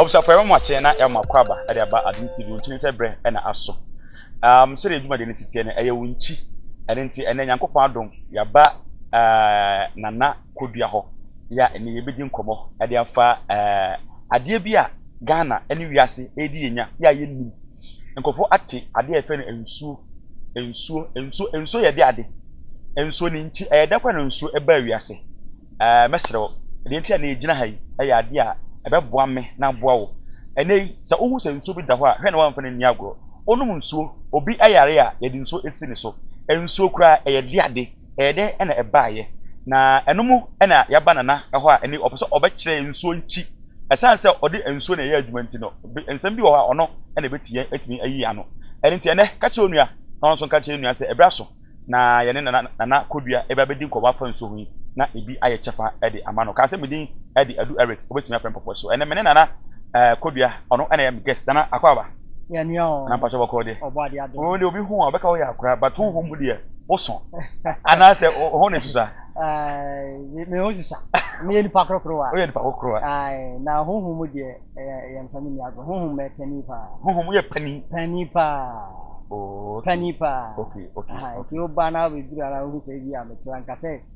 abusuafo ɛma mo akyɛn na ɛma kɔ aba ɛde aba adum tv ntumi sɛ brɛ ɛna aso um, sɛdeɛ adwumadeɛ no si teɛ no ɛyɛ wo nkyi ɛne nti ɛnɛ nyankopɔn adom yaba uh, nana kɔdua hɔ yɛ a ɛnnɛ yɛbɛdi nkɔmmɔ de afa adeɛ bi a Ghana ne wiase redi yɛnya yɛ a yɛnnim. Nkurɔfoɔ ate adeɛ a yɛfrɛ no nsuo, nsuo, nsuo, nsuo yɛ de ade. Nsuo ne nti ɛyɛ dɛ kora na nsuo ɛbaa wiase. Ɛɛ mɛsrɛ wo, deɛ nti a na yɛgyina ha yi yɛ adeɛ a ɛbɛboa me na aboa wo. Ɛnnɛ yi sɛ wohu sɛ nsuo bi da hɔ a hwɛ na woamfa no anni agorɔ. Wonom nsuo, obi yare a yɛde nsuo si ne so. Nsuo koraa ɛyɛ de ade. Ɛyɛ dɛ na ɛbaeɛ, na ɛno mu na yɛaba Nana hɔ a ɛnɛ ɔpɛ sɛ ɔbɛkyerɛ yɛn nsuo nkyi. Ɛsiane sɛ ɔde nsuo na ɛyɛ adwuma nti no, nsɛm bi wɔ hɔ a ɔno na ɛbɛti yɛn atumi ayi yɛn ano. Ɛno nti ɛnɛ, ka kyerɛ wo nua na ɔno nso nka nkyerɛ ne nua sɛ ɛberɛ aso na yɛne Nana Nana Kodua bɛba bɛdi nkɔmmɔ afa nsuo ho yi na ebi ayɛ kyɛfa de ama no. Ka sɛ, Me din de Adu Eric, wobɛtumi afrɛ me Pɔpɔ. So ɛnɛ me ne Nana Kodua, ɔno na ɛyɛ me guest. Nana Akwaaba. anampatwɛ bɔkɔɔ deɛ wɔn deɛ obi ho a ɔbɛka woyɛ akora but wo ho mu deɛ woso anaasɛ wo ho ne susa me ho susa meyɛ nipa korokorowa woyɛ nipa korokorowa na honhom mu deɛ yɛ mfa me ni agorɔ honhom yɛ pani paa honhom yɛ pani pani paa oh, pani paa nti woba na wobɛduru ara wohu sɛ bi a meto anka sɛ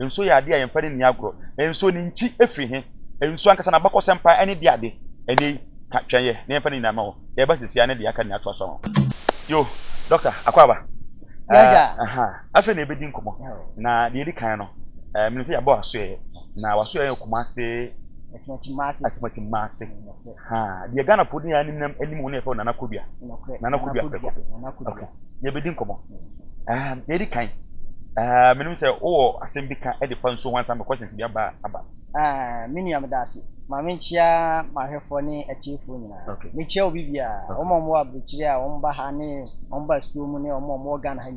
Nsuo yɛ adeɛ a yɛmfa no nni agorɔ. Na nsuo, ne nti firi he? Nsuo ankasa, n'abakɔsɛm paa ɛne deɛ ade ɛnnɛ yi ka twɛn yɛ, na yɛmfa no nyinaa ma hɔ. Yɛreba seesei ara ne deɛ aka nyinaa toa so ama wo. Yoo, Dɔkta Akwaaba. Yɛagya. Aha. Afei na yɛbɛdi nkɔmmɔ. Na deɛ ɛdi kan no, menim sɛ yɛabɔ w'asoɛeɛ, na w'asoɛeɛ yɛ Kumasi. Atimati Mmase. Atimati Mmase. Haa deɛ Ghana foɔ di nyinaa nim nam anim hɔ no yɛfrɛ Nana Kodua. Nana Kodua Preko. Okay. Yɛbɛdi nkɔmmɔ. Um, deɛ ɛdi kan, uh, menim sɛ wowɔ asɛm bi ka de fa nsuo ho ansa me questions bi aba aba. Uh, me nua meda ase. Ma menkyia m'ahwɛfoɔ ne atiefoɔ nyinaa. Okay. Mekyia obi biara. Wɔn a wɔwɔ aburokyire a wɔn ba ha ne wɔn ba asuo mu ne wɔn a wɔwɔ Ghana ha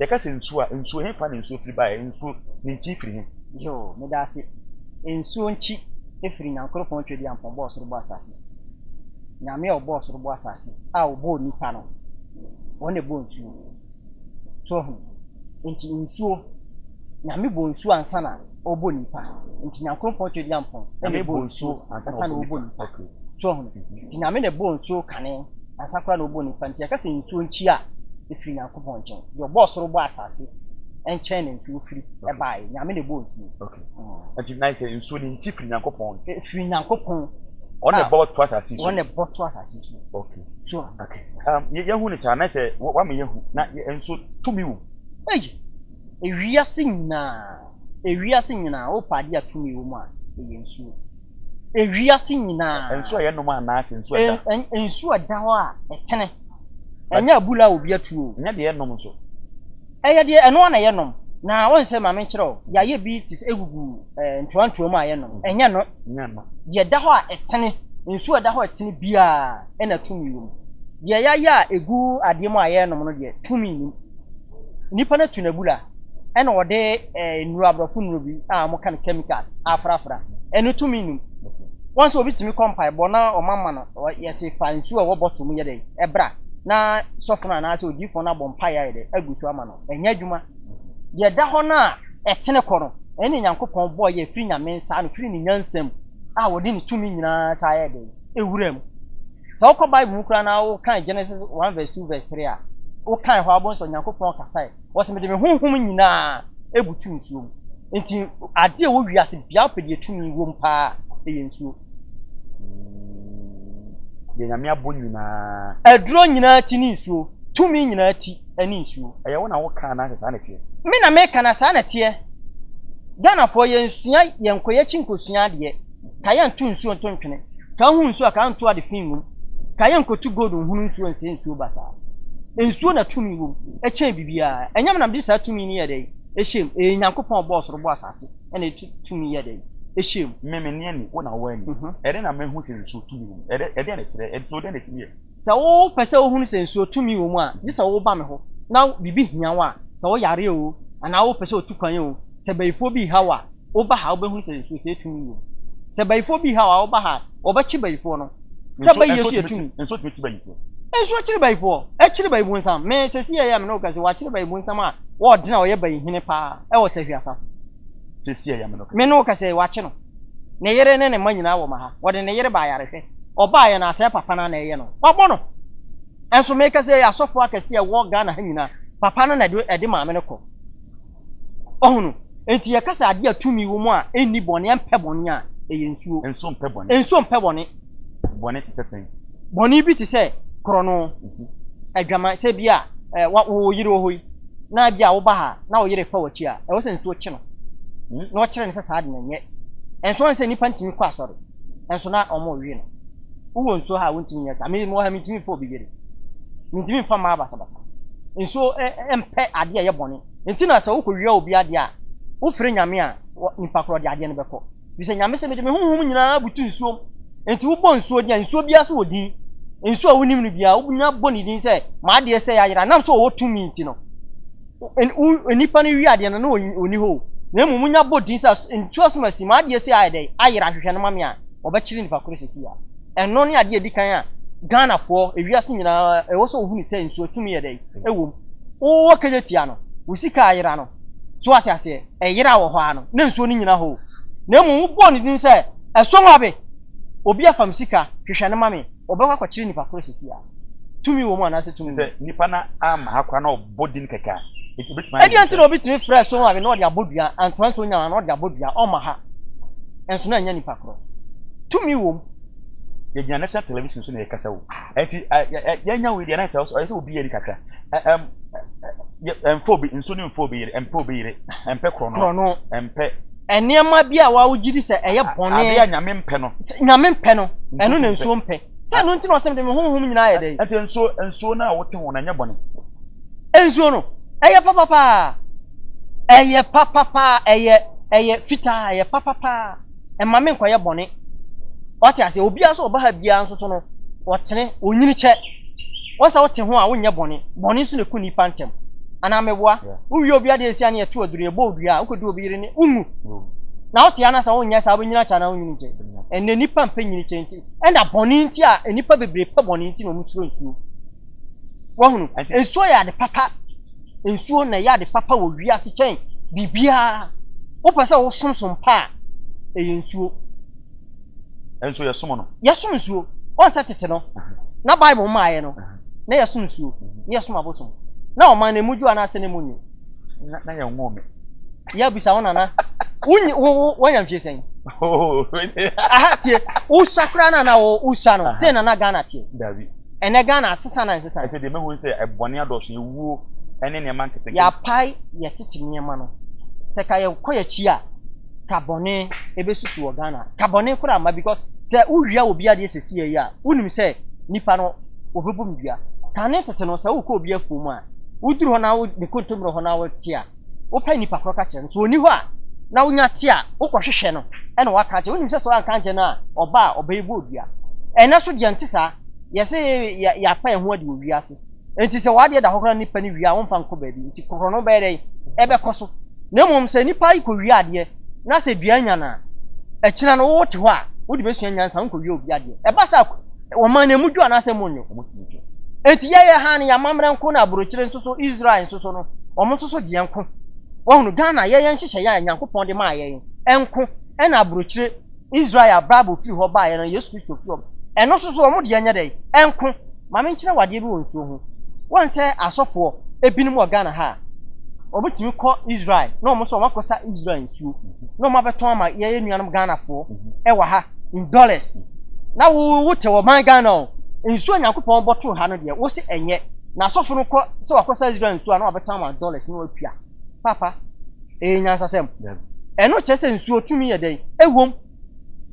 Yɛka sɛ nsuo a, nsuo, hefa na nsuo firi baeɛ? Nsuo, ne nkyi firi he? Yoo, meda ase. Nsuo nkyi firi Nyankoropɔn Tweduampɔn bɔɔ soro bɔɔ asaase. Nyame a ɔbɔɔ soro bɔɔ asaase a ɔbɔɔ nnipa no, ɔno na ɛbɔɔ nsuo. So wahu? Nti nsuo, Nyame bɔɔ nsuo ansa na. ɔbɔ nipa nti nyankoropɔn to adina mpɔn ɛna ɛbɔ nsuo ansa na ɔbɔ nipa so ɔhono nti nyame na ɛbɔ nsuo kane ansa koraa na ɔbɔ nipa nti yɛka sɛ nsuo nkyi a ɛfiri nyankopɔn nkyɛn deɛ ɔbɔ ɔsoro bɔ asase ɛnkyɛn na nsuo firi ɛbaeɛ nyame na ɛbɔ nsuo nti nan sɛ nsuo no nkyi firi nyankopɔn nkyɛn ɛfiri nyankopɔn ɔne ɛbɔ to asase so ɔne ɛbɔ to asase so okay so okay um, yɛhu ne saa na sɛ wama yɛhu na nsuo tumi wom ɛyi Ewiase nyinaa, ewiase nyinaa, wopɛ adeɛ a tumi wɔ mu a, ɛyɛ nsuo. Ewiase nyinaa. Nsuo a yɛnom anaa sɛ nsuo a ɛda. Nsuo a ɛda hɔ a ɛtene. Ɛnyɛ abura a obi atu o. Ɛnyɛ deɛ yɛnom nso. Ɛyɛ deɛ ɛno ara na yɛnom. Na wɔn sɛ maame nkyerɛ o, yɛayɛ bi te sɛ egugu ɛɛ ntoantoa mu a yɛnom. Mm. Ɛnyɛ no. Ɛnyɛ no. Deɛ ɛda hɔ a ɛtene, nsuo a ɛda hɔ a ɛtene biara ɛna tumi wɔ mu. Deɛ yɛayɛ a egu adeɛ mu a yɛnom no deɛ tumi nnim. Nipa no tu n'abura ɛna ɔde nnuro, aborɔfo nnuro bi a wɔka no chemicals afrafra ɛno tumi num. Wɔn sɛ obi tumi kɔ mpaebɔ na wɔn ama no, yɛse fa nsuo a ɛwɔ bottle mu yɛ dɛ ɛbra na sɔfo no anaasɛ odiyifoɔ no abɔ mpaeɛ ayɛ dɛ agu so ama no. Ɛnyɛ adwuma. Deɛ ɛda hɔ no a ɛtene kɔ no, ɛno na Nyankopɔn bɔeɛ ɛfiri Nyame nsa ano, ɛfiri ne nyansa mu a ɔde ne tumi nyinaa saa yɛɛ dɛ ɛwura mu. Sɛ wokɔ Bible mu koraa na wokan Genesis 1 vs 2 vs 3 a, wokan hɔ a, wobɛhu sɛ Onyankopɔn kasae. Ɔse, mede me honhom nyinaa butuu nsuo mu. Nti adeɛ ɛwɔ wiase biaa wopɛ deɛ tumi wom paa ɛyɛ nsuo. Mm, deɛ Nyame abɔ nyinaa. Aduro nyinaa ti ne nsuo. Tumi nyinaa ti ɛne nsuo. Ɛyɛ wo na wokaa na sɛ saa na teɛ? Me na meka na saa na teɛ. Ghanafoɔ yɛnsua yɛnkɔ yɛakyi nkɔsua adeɛ. Ka yɛ nto nsuo nto ntwene Ka nhu nsuo a ka nto ade fi ngum Ka yɛ nkotu gold nhunu nsuo nsɛe nsuo basaa Nsuo na tumi wɔ mu ɛkyɛn biribiara Ɛnyam na mede saa tumi no yɛ dɛn ɛhyɛ mu Ɛyɛ Nyankopɔn a ɔbɔɔ soro bɔɔ asase na ɛde tumi yɛ dɛn ɛhyɛ mu Me menni ani, wo na woanni mm-hmm. Ɛdɛn na mahu sɛ nsuo tumi wɔ mu Ɛdɛn na ɛkyerɛ, nsuo dɛn na ɛtumi yɛ? Sɛ wopɛ sɛ wohunu sɛ nsuo tumi wɔ mu a gye sɛ woba me hɔ na biribi hia wo a Sɛ woyare oo anaa wopɛ sɛ wotu kwan oo Sɛ bayifoɔ bi reha wo a Wo ba ha, wo bɛ hunu sɛ Yesu sɛ tumi wɔ mu. Sɛ bayifoɔ bi ha a, wo ba ha, wɔ bɛ kye bayifoɔ no. Sɛ bɛ Yesu yɛ tumi. Nso tumi kye bayifoɔ. Nso akyere bayifoɔ, akyere bayi bonsam. Me, sɛ si yɛ yɛ a me ne wo kɛse, wɔ akyere bayi bonsam a wɔ ɔdena a ɔyɛ bayi hene paa ɛwɔ sahwi asafo. Sɛ si yɛ yɛ a me ne wo kɛse. Me ne wo kɛse, wɔ akye no. Ne yere ne ne mma nyinaa wɔ ma ha. Wɔ de ne yere ba ayare hwɛ. Ɔba yɛ no a, sɛɛ papa no a na ɛyɛ no. Wɔ bɔ no. Nso me kɛse yɛ asɔfoɔ akɛse a ɛwɔ Ghana ha nyinaa, papa no na ɛde maame no kɔ. Ɔhunu. Enti yɛka sɛ adeɛ a tumi wɔ mu a ɛnni bɔne, ɛmpɛ bɔne a, ɛyɛ nsuo. Nsuo mpɛ bɔne. Nsuo mpɛ bɔne. Bɔne te sɛ sɛn? Bɔne bi te sɛ korɔno, adwaman, sɛ bi a wo yere wɔ hɔ yi, na bi a woba ha na wo yere refa w'akyi a, ɛwɔ sɛ nsuo kye no, na ɔkyerɛ no sɛ saa de no nyɛ. Ɛnso woahu sɛ nnipa ntumi kɔ asɔre, ɛnso na wɔwe no. Wowɔ nsuo ha a wontumi nyɛ saa? Me mewɔ ha mentumi mfa obi yere. Mentumi mfa mmaa basabasa. Nsuo mpɛ adeɛ a ɛyɛ bɔne. Enti na sɛ wokɔwia obi adeɛ a, wofrɛ Nyame a, nipa korɔ de adeɛ no bɛkɔ. Ɛfiri sɛ Nyame se, mede me honhom nyinaa butu nsuom. Enti wobɔ nsuo deɛ a, nsuo biara so wɔ din. Nsuo a wonim no biara, wobɛnya bɔ ne din sɛ, m'adeɛ sɛi ayera. Ɛnam sɛ ɔwɔ tumi nti no. Onipa no wie adeɛ no, na ɔnni hɔ o. Na mmom wonya bɔ din sɛ nsuo asom asi, m'adeɛ sei ayɛ dɛ, ayera ahwehwɛ no ma me a, wɔbɛkyere nipa korɔ sɛsi a. Ɛno ne adeɛ a ɛdi kan a Ghanafoɔ, ewiase nyinaa ɛwɔ sɛ wɔhunu sɛ nsuo tumi yɛ dɛ, ɛwɔ mu. Wowɔ kɛgya tia no, wo sika ayera no, so wate aseɛ, ɛyera wɔ hɔ ara no, na nsuo no nnyina hɔ o. Na mmom wobɔɔ no din sɛ, ɛsɔwabe, obi afa me sika, hwehwɛ no ma me, wɔbɛkɔ akɔkyere nipa korɔ sɛsi a. tumi wɔ mu anaasɛ tumi sɛ nipa na ama ha koraa na ɔbɔ din kɛkɛ a ebitumi ayɛ ɛdeɛ nti na obi tumi frɛ so maame na ɔde abɔ dua antoa nso nya na ɔde abɔ dua ɔma ha nso na ɛnyɛ nipa korɔ tumi wɔ mu yɛgyina national television so na yɛkasa o ɛnti yɛnya wei deɛ na ɛsɛ ɔyɛ sɛ obi yɛ ni kakra mfo bi nso ne mfo bi yere mfo bi yere mpɛ korɔ no mpɛ nneɛma bi a wɔawogye di sɛ ɛyɛ bɔne adeɛ a nyame mpɛ no nyame mpɛ no ɛno na nsuo mpɛ Sɛ ɛno nti na ɔsɛ mede me honhom nyinaa yɛ dɛn? Ɛnti nsuo, nsuo no a wote ho no ɛnyɛ bɔne? Nsuo no, ɛyɛ papapaa. Ɛyɛ papapaa, ɛyɛ, ɛyɛ fitaa, ɛyɛ papapaa. Ɛma me nkɔyɛ bɔne. Wate aseɛ, obiara sɛ ɔba ha biara nso so no, ɔtene, onyini kyɛ. Wɔn sɛ wote ho a wonyɛ bɔne, bɔne nso na ɛku nnipa ntɛm. Anaa meboa? Wowie obi adeɛ nsia ne ɛto aduro, yɛbɔ odua a, wokɔdu obi yere ne, wonwu. Na wote anasa wonyɛ saa, wobɛnyini akyɛ anaa wonyini nkyɛ? Ɛnɛ nnipa mpɛ nyini kyɛ nti. Ɛna bɔne nti a nnipa bebree pɛ bɔne nti na wɔn suro nsuo. Wahunu? Nsuo yɛ ade papa. Nsuo na ɛyɛ ade papa wɔ wiase kyɛn biribiara. Wopɛ sɛ wosomsom pa a, ɛyɛ nsuo. Ɛnso yɛsom no. Yɛsom nsuo. Wɔn sɛ tete no, na Bible mmaeɛ no, na yɛsom nsuo, na yɛsom abosom. Na ɔman no, emu dwo anaasɛ na emu nnwo? Na yɛn nwo me. yɛ bisa wo nana wonyi wo wo wanya mfie sɛn aha tie wosa koraa na na wo wosa no sɛ nana Ghana tie dabi ɛnɛ Ghana asesa na nsesa ɛsɛ deɛ mɛhu sɛ ɛbɔne adɔso yɛwuo ɛne nneɛma nketenkete yɛapae yɛtete nneɛma no sɛ ka yɛkɔ yɛakyi a ka bɔne ɛbɛsusu wɔ Ghana ka bɔne koraa ma because sɛ wowia wɔ bi adeɛ sɛ si yɛyi a wonim sɛ nipa no wɔbɛbom dua kane tete no sɛ wokɔ obi afuo mu a woduru hɔ na wo ne kontommerɛ hɔ na wote a wopɛ nnipa korɔ ka kyerɛ no, sɛ ɔnni hɔ a na wonya te a wokɔ hwehwɛ no ɛna waka akyerɛ, wonim sɛ sɛ wanka ankyerɛ no a ɔba a ɔbɛyɛ bɔ odua, ɛnɛ so deɛ nte saa, yɛse yɛafa yɛn ho adi wɔ wiase, nti sɛ w'adeɛ da hɔ koraa nnipa no wie a womfa nkɔ baabi, nti korɔ no bɛyɛ dɛn ɛbɛkɔ so, na mmom sɛ nnipa yi kɔ wie adeɛ na sɛ dua nya no a, akyina no wo te hɔ a wode bɛsua nyansa wonkɔ wie obi adeɛ, ɛba saa a. Wɔma no emu dwo anaasɛ emu nnwo? Wɔtumi dwo. Enti yɛyɛ ha no, yɛamammerɛ nko na aburokyire nso so, Israel nso so no, wɔn nso so deɛ nko. Wɔhunu Ghana yɛyɛ nhyehyɛeɛ a Nyankopɔn de maa yɛn nko ɛna aburokyire Israel a Bible firi hɔ baeɛ no, Yesu Kristo firi hɔ, ɛno nso so wɔn deɛ nyɛ dɛn? Ɛnko. Ma menkyerɛ wo adeɛ bi wɔ nsuo ho. Wɔn sɛ asɔfoɔ ebinom wɔ Ghana ha a, wɔtumi kɔ Israel na wɔn nso wɔakɔsa Israel nsuo. nsuo na wɔn abɛtɔn ama yɛyɛ nuanom Ghanafoɔ ɛwɔ ha in dollars na wo wo te wɔ man Ghana o nsuo Nyankopɔn bɔ toro ha no deɛ wo se ɛnyɛ na asɔfo no kɔ sɛ wakɔ sɛ Israel nsuo a na wabɛtɔn ama dollars na watua papa ɛyɛ nyansasɛm ɛno kyerɛ sɛ nsuo tumi yɛ dɛn ɛwom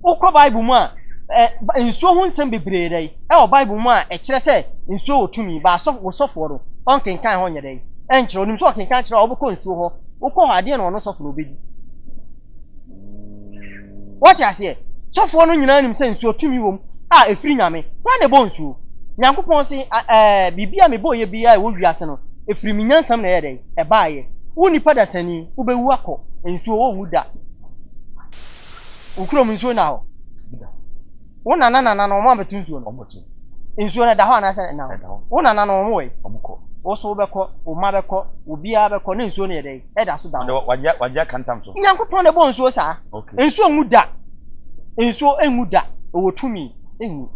Wokɔ Bible mu a, ɛ, nsuo ho nsɛm bebree dɛ ɛwɔ Bible mu a ɛkyerɛ sɛ nsuo wɔ tumi, ba asɔfo, wo sɔfoɔ no, ɔnkenkan hɔ nyɛ dɛ, ɛnkyerɛ, ɔnim sɛ ɔkenkan kyerɛ a wobɛkɔ nsuo hɔ, wokɔ hɔ adeɛ na ɔno sɔfo no ɔbɛdi. Wɔte aseɛ? Sɔfoɔ no nyinaa nim sɛ nsuo tumi wɔ mu a ɛfiri Nyame. Hwan na ɛbɔ nsuo? Nyankopɔn se, ɛɛ, biribi a mebɔɔyɛ biara a ɛwɔ wiase no, ɛfiri me nyansam na ɛyɛ dɛ, ɛbaeɛ. Wo nipa dasani, wobɛwu akɔ, nsuo wɔnwu da. Wo kurom nsuo nna hɔ? Wo nana nana no wɔn abɛto nsuo no? Nsuo no ɛda hɔ anaasɛ ɛnna hɔ? Wo nana no wɔn wɔ yi? Wo so wobɛkɔ, wo mma bɛkɔ, obiara bɛkɔ na nsuo no yɛ dɛ ɛda so da hɔ. Wagye aka ntam so. Nyankopɔn na ɛbɔ nsuo saa. Nsuo nwu da. Nsuo nwu da. Ɛwɔ tumi. Ew.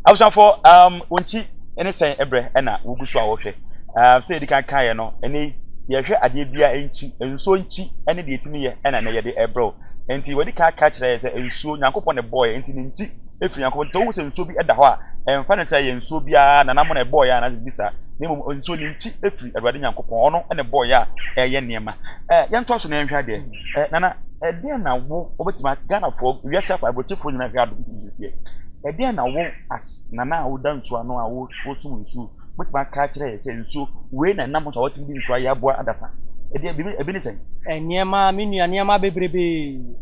Abusuafoɔ, um, wɔn nti ne sɛn ɛbrɛ ɛna wogu so a wɔhwɛ. Um, sɛ yɛdi kan kaeɛ no, ɛnɛ yi, yɛhwɛ adeɛ biara nti, nsuo nti ɛne deɛ ɛtumi yɛ ɛna ɛnɛ yɛde ɛbrɛ o. Nti wɔadi kan aka kyerɛ yɛn sɛ nsuo, Nyankopɔn na ɛbɔɔɛ, nti ne nti ɛfiri Nyankopɔn. Nti sɛ wohu sɛ nsuo bi ɛda hɔ a, ɛmfa ne sɛ ɛyɛ nsuo biara na nam na ɛbɔɔɛ a, anaasɛ biribi saa, na mmom nsuo ne nti ɛfiri Awurade Nyankopɔn, ɔno na ɛbɔɔɛ a ɛyɛ nneɛma. Ɛɛ yɛn tɔ so na yɛn hwɛ adeɛ. Ɛɛ nana ɛdeɛn na wo wɔbɛtumi a Ghanafoɔ wiase akɔ aburokyefoɔ nyinaa hwɛ ado ti sisi yɛ. Ɛdeɛn na wo as nana a woda nsuo ano a wo wosum nsuo wɔbɛtumi aka akyerɛ yɛ sɛ nsuo wei na ɛnam so a wɔtumi de nsuo ayɛ aboa adasa. Ɛdeɛ ebi ebi ne sɛn. Nneɛma me nua nneɛma bebrebe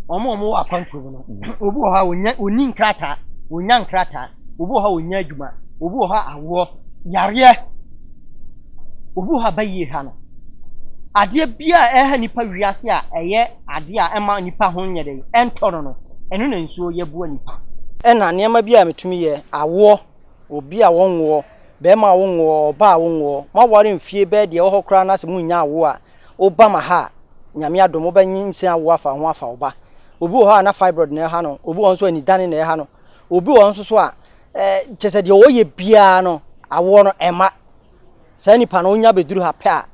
wɔn a wɔwɔ akwantuo mu no mm-hmm. obi wɔ hɔ a wɔnya wɔni nkrataa wɔnya nkrataa obi wɔ hɔ a wɔnya adwuma obi wɔ hɔ a awoɔ yareɛ. Obi wɔ hɔ a bayie ha no, adeɛ biara a ɛha nnipa wiase a ɛyɛ adeɛ a ɛma nnipa ho nyɛ dɛ, ɛntɔ no no, ɛno na nsuo yɛ boa nnipa. Ɛna nneɛma bi a metumi yɛ, awoɔ, obi a wɔnwoɔ, bɛrima a wonwoɔ, ɔbaa a wonwoɔ, moaware mfie bɛyɛ deɛ ɛwɔ hɔ koraa na sɛ monnya awoɔ a, woba ma ha a, Nyame adom wobɛnyinsɛn awoɔ afa ho afa wo ba. Obi wɔ hɔ a na fibroid na ɛha no, obi wɔ hɔ nso a anidane na ɛha no, obi wɔ hɔ nso so a Eh, kyerɛ sɛ deɛ ɔyɛ biara no awoɔ no ɛma saa nipa no wonya bɛduru ha pɛ a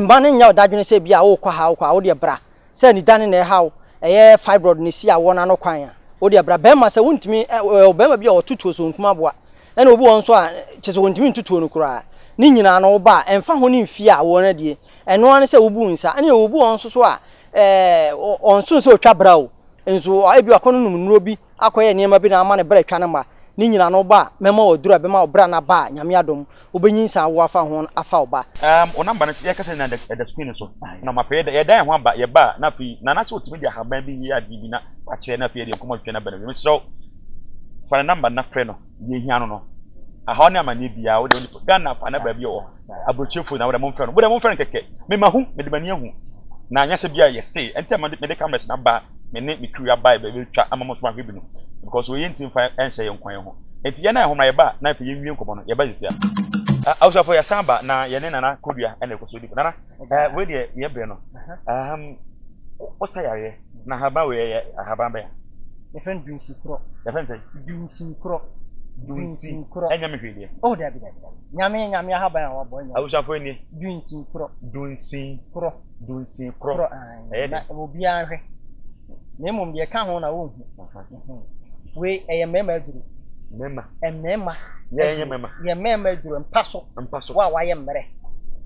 ɛmma no nyɛ ɔdadwene sɛ bi a wokɔ ha wokɔ a wodeɛ bra sɛ nidane na ɛhaw ɛyɛ fibroid na ɛsi awoɔ no ano kwan a wodeɛ bra bɛrima sɛ wontumi bɛrima bi a ɔtotuo so nkuma aboa ɛna obi wɔn nso a kyerɛ sɛ wɔntumi ntotuo no koraa ne nyinaa no woba a ɛmfa ho ne mfie a awoɔ no adie ɛno ara ne sɛ wobu nsa ɛne obi wɔn nso so a ɔnso sɛ ɔtwa bra o nso ebi akɔ no nom nnuro bi akɔyɛ nneɛma bi na ama ne bra atwa no ma ne nyin ano ba a, mɛma waduru a ɛbɛma wo bra no aba a, Nyame adom, wobenyinsɛn awo afa ho no afa wo ba. Um, wo number no sɛ yɛkasa nyinaa ɛda ɛda screen no so na mapɛ yɛda yɛda yɛn ho aba yɛba a na afei Nana sɛ otumi de ahaban bi yɛ adeɛ bi na wakyerɛ na afei yɛde yɛn nkɔmmɔ twetwe no aba no wie mesrɛ wo fa ne number no na frɛ no. Deɛ ehia no no, ahaw ne amaneɛ biara wo deɛ wo nipa Ghana fa na baabi wɔ aburokyire fo na wo deɛ mo mfɛ no mo deɛ mo mfɛ no kɛkɛ. Me ma hu, me de m'ani ahu na nyɛ sɛ bia yɛ see ɛnti na me de cameras na ba me ne me crew aba yɛ bɛ twa ama mo nso mo ahwɛ bi no because wɔ yɛ nti mfa ɛnhyɛ yɛ nkwa yɛ ho ɛnti yɛ na yɛ ho na yɛ ba na afei yɛ nwie nkɔmɔ no yɛ ba nsia. Abusuafo yɛ san ba na yɛ ne Nana Kodua ɛna ɛkɔ so di nkɔmɔ Nana. Ɛɛ wei deɛ yɛ brɛ no ahahan ɔsa yareɛ na ahaban wei yɛ ahaban bɛn. yɛfrɛ no dunsikorɔ. yɛfrɛ no sɛ. dunsikorɔ. dunsikorɔ. ɛnyɛ me hwee deɛ. oh dabi dabi dabi nyame nyame ahaban a wabɔ ɛnyɛ. abusuafoɔ nie. dunsikorɔ. dunsikorɔ. dunsikorɔ. korɔ ɛyɛ dɛ. na obiara hwɛ na mmom deɛ ɛka ho na wɔnhu. Wei ɛyɛ mmarima aduru. Mmarima. Mmarima. Yɛ ɛyɛ mmarima. Yɛ mmarima aduru mpa so. Mpa so. Wo a wayɛ mmerɛ.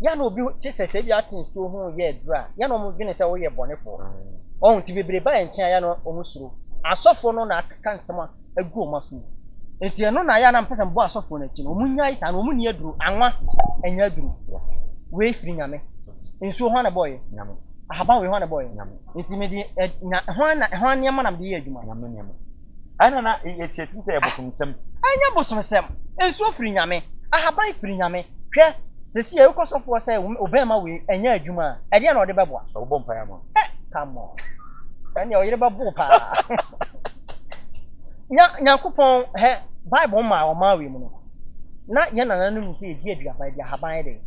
Yɛn na obi te sɛ sɛ ebi ate nsuo ho yɛ aduru a yɛn na wɔn dwene sɛ wɔyɛ bɔnefoɔ. Ɔho nti bebree ba yɛn nkyɛn a yɛn na wɔn suro. Asɔfoɔ no na aka nsɛm a agu wɔn aso yi. Nti ɛno na yɛn na mpɛ sɛ mbɔ asɔfoɔ no akyi no. Wɔn nyae saa no wɔn ni aduru. Anwa ɛnyɛ aduru. Wei firi nyame. Nsuo hwan na ɛbɔɔ yɛ? Nyame. Ahaban wei hwan na ɛbɔɔ yɛ? Nyame. Nti mede yɛ ɛ na hwan na hwan nneɛma na mede yɛ adwuma? Nyame nneɛma. Ɛna na yɛkyerɛ tumi sɛ yɛ bosomsɛm. Ɛnyɛ bosomsɛm. Nsuo firi Nyame. Ahaban firi Nyame. Hwɛ, sɛsi yɛ wokɔ sɔfo hɔ sɛ wo bɛɛma wei ɛnyɛ adwuma a, ɛdeɛn na ɔde bɛboa? Ɔbɛbɔ mpaeɛ ama wo. Ɛ, come on. Ɛnneɛ wo yere bɛbo wo paa. Nya, Nyankopɔn, hɛ, Bible maa ɔmaa wei mu no. Na yɛn nananom nim sɛ yɛdi aduaba, yɛdi ahaban yɛ dɛn?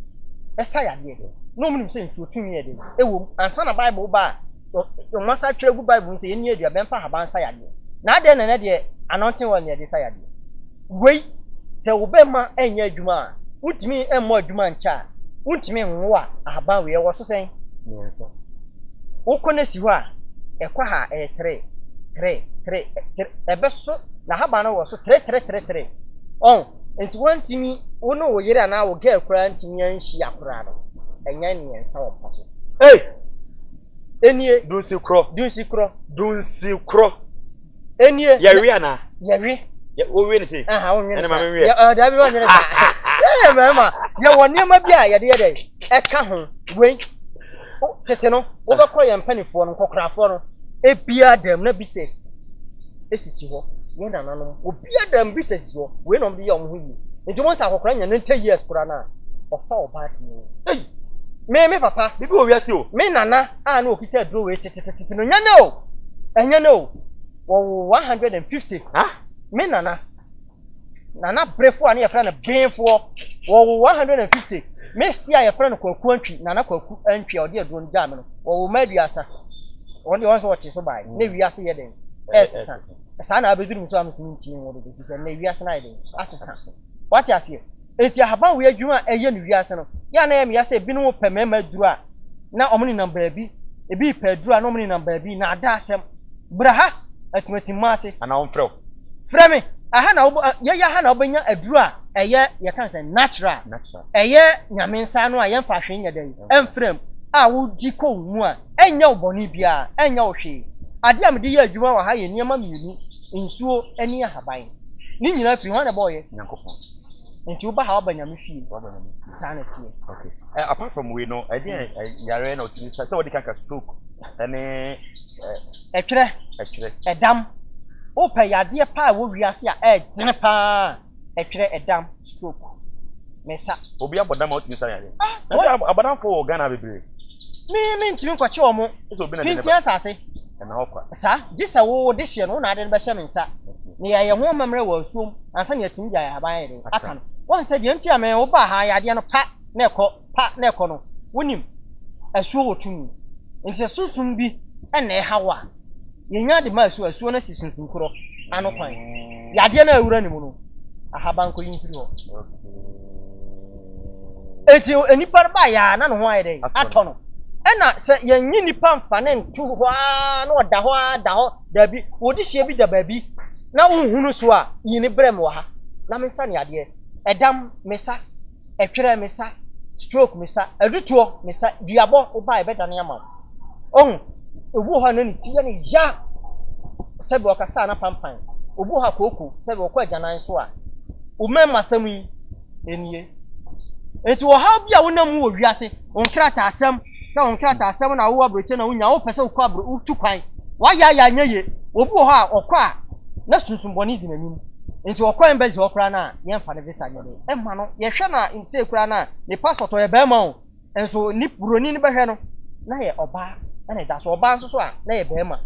Ɛsa yadeɛ. Na wɔnim sɛ nsuo tumi yɛ dɛn? Ɛwom, ansa na Bible reba a, wɔasan atwerɛ agu Bible mu sɛ yɛnni aduaba, yɛmfa ahaban nsa yadeɛ. Na adɛn na ɛnnɛ deɛ anointing oil na yɛde sa yadeɛ? Wei, sɛ wo bɛrima nyɛ adwuma a, wontumi mmɔ adwuma nkyɛ a, wontumi nwo a, ahaban wei ɛwɔ so sɛn? Mmiɛnsa. Wokɔ no si hɔ a, ɛkɔ ha a, ɛyɛ tere, tere, tere, tere, ɛbɛso, na ahaban no wɔ so tere, tere, tere, tere. Ɔho nti woantumi wo ne wo yere anaa wo girl koraa antumi anhyia koraa no ɛnyɛ mmiɛnsa wɔ mpa so. Ei! Enie. Dunsi korɔ. Dunsi korɔ. Dunsi korɔ. Enie. Yɛwe anaa. Yɛwe. Wowe ne se. Aha wonwe ne sa. Ɛne ma menwe. Yɛ daabi wonwe ne sa. Ɛɛ mɛma yɛwɔ nneɛma bi a yɛde yɛ dɛ ɛka ho wei tete no wobɛkɔ yɛn mpanimfoɔ no nkɔkorafoɔ no ebia dɛm na bites. esisi hɔ, yɛn nananom, obiara da mmirika sisi hɔ, wei na wɔde yɛ wɔn ho yie. Nti wɔn sɛ akɔkora nya ninety years koraa no a, ɔfa ɔbaa tumi wo. Ei! Me, me papa, biribi wɔ wiase o. Me nana a na ɔkita aduro wei tetetete no, nyɛ nɛ o! Ɛnyɛ nɛ o! Wɔwoo one hundred and fifty. Ha? Me nana. Na na berefoɔ a ne yɛfrɛ no Benfoɔ, wɔwo 150. Me si a yɛfrɛ no Kwaku Antwi, Nana Kwaku Antwi a ɔde aduro no gyaa me no, wɔwo mma aduasa. Wɔn deɛ wɔn sɛ wɔte so bae, na wiase yɛ den, ɛresesa. Saa na abɛduru me so a mesome ntini nwo dodo, firi sɛ nnɛ wiase no ayɛ den, asesa. Wate aseɛ? Enti ahabanwe adwuma a ɛyɛ no wiase no, yɛ a na ɛyɛ me ya sɛ ebinom repɛ mmarima aduru a na wɔnenam baabi, ebi repɛ aduru a na wɔnenam baabi, nnaadaasɛm. Bra ha, atumatimma ase. Anaa wɔmfrɛ wo. Frɛ me, aha na wo, yɛyɛ aha na wobɛnya aduru a ɛyɛ, yɛka no sɛn, natural, ɛyɛ Nyame nsa ano a yɛmfa hwee nyɛ dɛn, ɛmfra mu, a wodi kɔ wo mu a, ɛnyɛ wo bɔne biara, ɛnyɛ wo hwee. Ade a mede yɛ adwuma wɔ ha yɛ nneɛma mmienu, nsuo ne ahaban. Ne nyinaa firi hwan na ɛbɔeɛ? Nyankopɔn. Nti woba ha waba nyame fie. Waba nyame fie. Saa na ɛteɛ. Okay. Eh, apart from wei no, ɛdeɛ eh, hmm. eh, yare na ɔtumi sɛ wɔde kanka stroke ɛne ɛtwerɛ ɛtwerɛ ɛdam. Wopɛ yadeɛ paa wɔ wiase a ɛɛdene paa ɛtwerɛ ɛdam stroke mɛsa. Obi abɔdam a ɔtumi sa yare. Ah, Ɛsɛ abɔdamfo wɔ Ghana bebree. Me me ntumi nkɔkye wɔn. Ɛsɛ obi na de ne ba. Pinti asase. Ɛna ɔkwa. Saa, gye sɛ wo wo dehyeɛ no, wo na ade no bɛhyɛ me nsa. Na yɛayɛ ho amammerɛ wɔ asuom ansa na yɛatumi de ayahaban ayɛ dɛn? Aka no. Woahu sɛ deɛ nti a me wo baa ha, yadeɛ no, pa na ɛkɔ, pa na ɛkɔ no, wonim, asuo wɔ tumi. Enti sɛ sunsum bi na ɛha wo a, yɛnya de ma asuo a, asuo no asi sunsum korɔ ano kwan. Yadeɛ no a awura ne mu no, ahaban kɔ yi mfiri hɔ. Enti nnipa no baeɛ ara na ne ho ayɛ dɛn? Atɔ no. Ɛna sɛ yɛnyi nnipa mfa no nto hɔ ara na ɔda hɔ ara da hɔ daabi, wo dehyeɛ bi da baabi na wonhu no so a, yi no brɛ me wɔ ha na mensa no yadeɛ. Ɛdam, mesa. Ɛtwerɛ, mesa. Stroke, mesa. Adutoɔ, mesa. Duabɔ, wo ba a yɛbɛdane ama wo. Ɔhu? Obi wɔ hɔ a na ne ti yɛ no ya sɛdeɛ ɔkasa a na panpan. Obi wɔ hɔ a kooko sɛdeɛ ɔkɔ agyanan so a. Wo mɛmma asɛm yi. Enie. Enti ɔhaw bi a wonam mu wɔ wiase, wo nkrataasɛm, sɛ wo nkrataasɛm na wowɔ abrɛkyɛ na wonya, wopɛ sɛ wokɔ abrɛ, wotu kwan, wayɛ ayɛ anyɛ ye, obi wɔ hɔ a ɔkɔ a na sunsum bɔne di n'anim. Nti ɔkɔ embassy hɔ koraa no a, yɛmfa ne visa nyɛ dɛn mma no, yɛhwɛ no a, sei koraa no a, ne passport, ɔyɛ barima o, Nso nip buroni no bɛhwɛ no na yɛ ɔbaa na ɛda so ɔbaa nso so a na yɛ bɛrima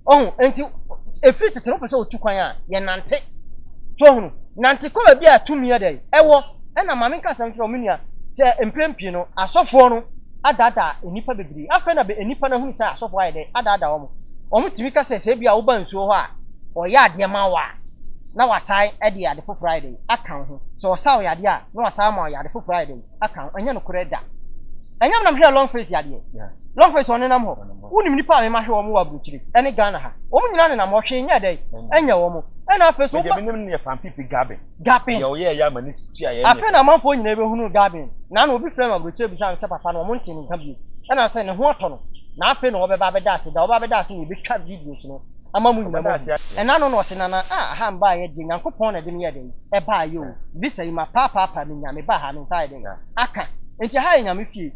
ɔho nti ɛfiri tete no pɛ sɛ ɔtu kwan a yɛ nante so ɔhunu nante kɔ baabi a tumi yɛ dɛ ɛwɔ ɛna maame nka asɛm kyerɛ ɔmo nua sɛ mprɛn pii no asɔfoɔ no adaada nnipa bebree afei na nnipa no ahunu sɛ asɔfoɔ ayɛ dɛ adaada ɔmo ɔmo tumi ka sɛ sɛ ebi a woba nsuo hɔ a ɔyɛ adeɛ ma wo a na wasan ɛde ade foforɔ ayɛ dɛ aka wo ho sɛ ɔsa wo yadeɛ a na wasan ama wo yɛ ade foforɔ ayɛ dɛ aka ho ɛnyɛ nokorɛ da ɛnyɛ menam hwɛɛ long face yadeɛ long face ɔnenam hɔ wonim nipa a mema hwɛ wɔn wɔ aburokyire ɛne ghana ha wɔn nyinaa nenam hɔ hwee nyɛ dɛn ɛnyɛ wɔn ɛna afei so gapin afei na amanfoɔ nyinaa bɛhunu gapin na na obi frɛ no aburokyire bisa no sɛ papa no wɔn nte ne nka bio ɛna sɛ ne ho atɔ no na afei na wɔbɛba abɛda ase da wɔbɛba abɛda ase na yɛbɛtwa videos no ama mo nyina moahu. Ɛna ano na ɔse nana ah aha mbaayɛ deɛ Nyankopɔn na ɛde me yɛ dɛn ɛbaayɛ o visa yi ma paa paa paa me nya me baa ha me nsa ayɛ dɛn aka nti aha yɛ Nyame fie.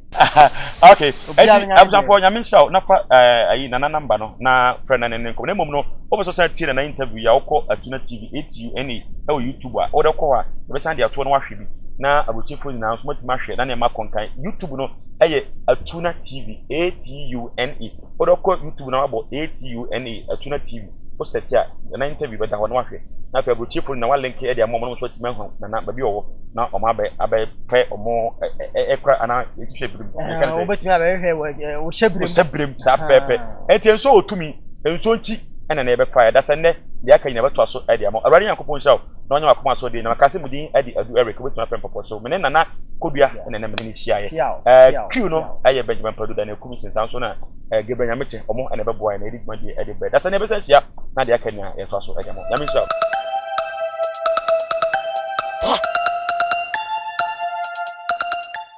Ok ɛnti abusuafoɔ Nyame nhyira wo na fa ayi nana number no na frɛ no ne ne nkɔmɔ na mmom no wo pɛ sɛ ɔsan tie nana interview yi a wo kɔ Atuna TV ATUNA ɛwɔ YouTube a wo dɛ kɔ hɔ a yɛbɛsan de atoɔ na wahwɛ bi na aburokyefoɔ nyinaa nso moatumi ahwɛ na nneɛma akɔ nkan YouTube no ɛyɛ Atuna TV ATUNA. Wodɔ kɔ YouTube na wabɔ ATUNA, Atuna TV, wo search a Nana interview bɛda hɔ na wahwɛ. Na afei aburokyefo no na wa link de ama wɔn na wɔn nso atumi ahu Nana baabi a ɔwɔ na wɔn abɛ abɛ pɛ wɔn ɛ ɛ kora anaa yɛtu hyɛ birim. Ɛhɛn ɛka ne sɛ. Wobɛtumi abɛhwehwɛ wɔ ɛ wɔ hyɛ birim. Wɔ hyɛ birim saa pɛpɛpɛ. Ɛnti nso wɔ tumi nso nti ɛna na yɛbɛfa ɛda sɛ nnɛ deɛ aka nyina bɛtoa so de ama wo. Awurade Nyankopɔn nhyira wo na ɔnyɛ wakoma asoɔden na maka sɛ mu din de Adu Eric wobɛtumi afrɛ mpɔpɔ so. Mene Nana Kodua ɛna ɛna mene ne. hyiaeɛ. Ɛɛ Q no yɛ Benjamin Padu da na ɛkum sin saa nso na ɛɛ Gabriel Nyamekyɛ ɔmo na ɛbɛboa yɛ na yɛde dwumadie ɛde brɛ da sɛ na ɛbɛsa ahyia na deɛ aka nia yɛtoa so ɛde mo Nyame nhyira wo.